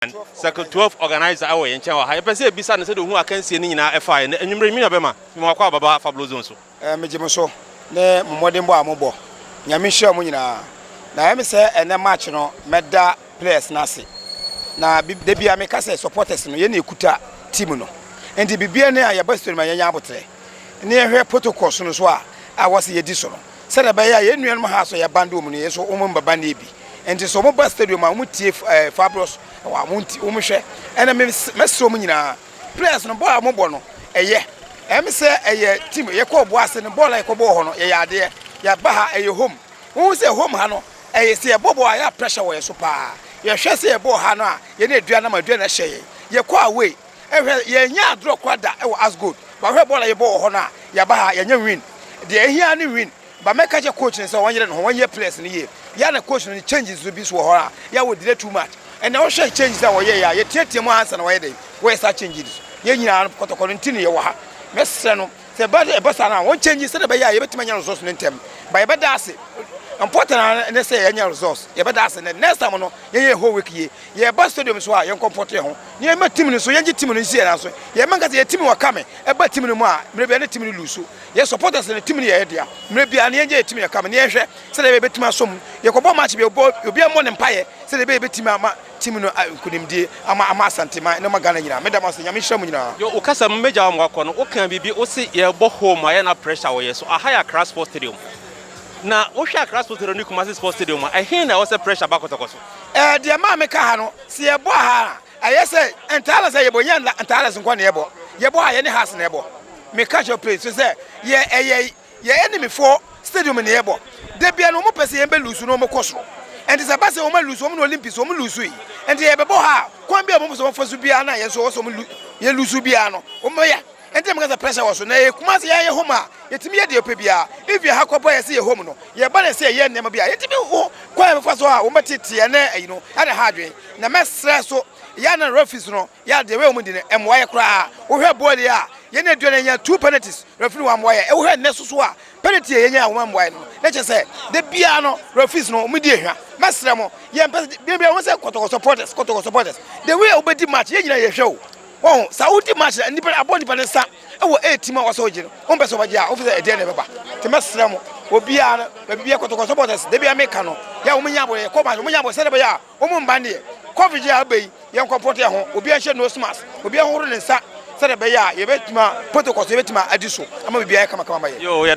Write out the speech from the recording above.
An, Circle Twelve organiser wɔ yɛn nkyɛn wɔ ha. Yɛpɛ sɛ yɛbisa no sɛdeɛ ɔhunu akansie no nyinaa ɛfaeɛ. Nnɛ anwummerɛ yi, me nua bɛma, fi Mawakɔ a bɛba Fablo Zone so. Megye mo so ne mo mmɔdenbɔ a mobɔ. Nyame nhyira mo nyinaa. Na ɛyɛ me sɛ ɛnnɛ match no mɛda players no ase. Na bi, da biara meka sɛ supporters no, yɛn na yɛkuta team no. Enti biribiara nni a yɛba studio no ma yɛnya aboterɛ. Ne yɛhwɛ protocols no so a, a wɔse yɛdi so no. Sɛdeɛ ɛbɛyɛ a yɛn nuanom ha nso yɛn band wɔ mu no, yɛn nso wɔn mma band yɛ bi. Nti sɛ wɔn ba stadium a, wɔn tie ɛɛ Fabros, ɛwɔ a wɔn ti wɔn hwɛ. Ɛna me mɛsrɛ wɔn nyinaa, players no bɔɔl a wɔn bɔ no, ɛyɛ. Ɛm sɛ ɛyɛ team yɛ kɔ ɔboa ase no, bɔɔl a yɛ kɔ bɔɔ hɔ no, yɛ yɛ adeɛ. Yɛ aba ha, ɛyɛ home. Wɔn hu sɛ home ha no, ɛyɛ sɛ yɛ bɔ bɔɔl a, ɛyɛ a pressure wɔ yɛn so paa. Yɛ hwɛ sɛ yɛ bɔɔ ha no a, yɛn aduan nam a, aduan na ɛhyɛ yɛn. Yɛ kɔ away. Hwɛ, yɛnyɛ adorɔ koraa da wɔ Asgold. Ba hwɛ bɔɔl a yɛbɔ wɔ hɔ no a, yɛaba ha a, yɛanya win. Deɛ ɛhia ara ne win. Ba mɛka akyerɛ coach no sɛ ɔnyere ne ho, ɔnyɛ players no yie. Yɛ ara na coach no ne changes nso bi nso wɔ hɔ a, yɛ ara wɔdelay too much. Ɛnnɛ wohwɛ changes a wɔyɛeɛ a, yɛteateaam ara ansa na wɔayɛ dɛn? Wɔyɛ saa changes no. Yɛn nyinaa no kɔtɔkɔ no nti na yɛwɔ ha. Mɛsrɛ no sɛ ɛba sɛ ɛba saa no a, wɔn change sɛdeɛ ɛbɛyɛ a yɛbɛtumi anya results no ntɛm. Ba yɛbɛda ase. Important ara ne sɛ yɛanya results. Yɛbɛda ase. Next time no, yɛnyɛ yɛn whole week yie. Yɛba stadium so a, yɛnkɔmpɔto yɛn ho na yɛmma team no nso, yɛngye team no nsie nanso yɛmma nka sɛ yɛn team wɔ kame. Ɛba team no mu a, mmerɛ biara na team no luusu. Yɛn supporters no, team no yɛ yɛn dea. Mmerɛ biara no, yɛngye yɛn team no kame na yɛnhwɛ sɛdeɛ ɛbɛyɛ a yɛbɛtumi asɔ mu. Yɛkɔbɔ match bi a, obiara mmɔ ne mpaeɛ sɛdeɛ ɛbɛyɛ a yɛbɛtumi ama team no nkunimdie, ama ama Asanteman na ama Ghana nyinaa. Meda mo ase. Nyame nhyira mo nyinaa. Yo, wo kasa mu, mɛgya wo ama woakɔ no, wokaa biribi, wose yɛrebɔ home a, yɛ na pressure wɔ yɛn so. Aha yɛ Accra Sports Stadium. Na wohwɛ Accra Sports Stadium ne Kumasi Sports Stadium a, ɛhe na ɛwɔ sɛ pressure ba kɔtɔkɔtɔ? Eh, deɛ maa me ka ha no, sɛ yɛ bɔ aha a, ɛyɛ sɛ Ntalas a yɛ bɔ, nyɛ Ntalas nkoa na yɛ bɔ. Yɛ bɔ ha, yɛ ne Hearts na yɛ bɔ. Me ka kyerɛ wo please, firi sɛ yɛ, ɛyɛ yɛ enemy foɔ stadium na yɛ bɔ. Da biara no, wɔn pɛ sɛ yɛn bɛ lose na wɔn kɔ soro. Nti sɛ ɛba sɛ wɔn a lose, wɔn ne Olympics, wɔn lose yi, nti yɛ bɛ bɔ ha a, kwan biara a wɔn pɛ sɛ wɔn fa so biara na yɛn nso wɔn sɛ wɔn lu, yɛ lose biara no, wɔn bɛ yɛ. Ɛnti meka sɛ pressure wɔ so na ɛyɛ Kumasi yɛn yɛ home a yɛtumi yɛ deɛ yɛpɛ biara if yɛn ha kɔ bɔ yɛn sɛ yɛ home no yɛba na ɛsɛ yɛyɛ nneɛma bi a yɛtumi ho kwan a yɛbɛfa so a wɔn bɛtete yɛn ne ɛyi no ɛna ha adwene na mɛsrɛ so yɛa na referees no yɛa deɛ wei wɔn di no ɛmmoa yɛ koraa wohwɛ bɔɔl yi a yɛn na aduane yɛnya two penalties referee no wammoa yɛn wohwɛ nnɛ so so a penalty a yɛnya a wɔn ammoa yɛn no na kyɛ sɛ da biara no referees no wɔn di ehwa mɛsrɛ mo yɛn pɛ sɛ bia bia wɔn sɛ kɔtɔkɔ supporters kɔtɔkɔ supporters the way a wɔbɛdi match yɛn nyinaa yɛhwɛ o Wɔn sa wodi march na nipa abɔ nipa ne nsa wɔ air team a wɔsɔ ogye no wɔn pɛ sɛ wɔbɛgye a wɔn fɛ sɛ ɛdeɛ na ɛbɛba te mɛsrɛ mo obiara no baabi biara kɔtɔkɔ supporters da biara meka no yɛ wɔn nyɛ abɔ yɛ kɔ march wɔn nyɛ abɔ sɛdeɛ bɛyɛ a wɔn mba neɛ covid yɛ a aba yi yɛn kɔ pɔtɛ ho obiara nhyɛ nose mask obiara horo ne nsa sɛdeɛ bɛyɛ a yɛbɛtuma protocols yɛbɛtuma adi so ama biribiara yɛ kamakama ma yɛ.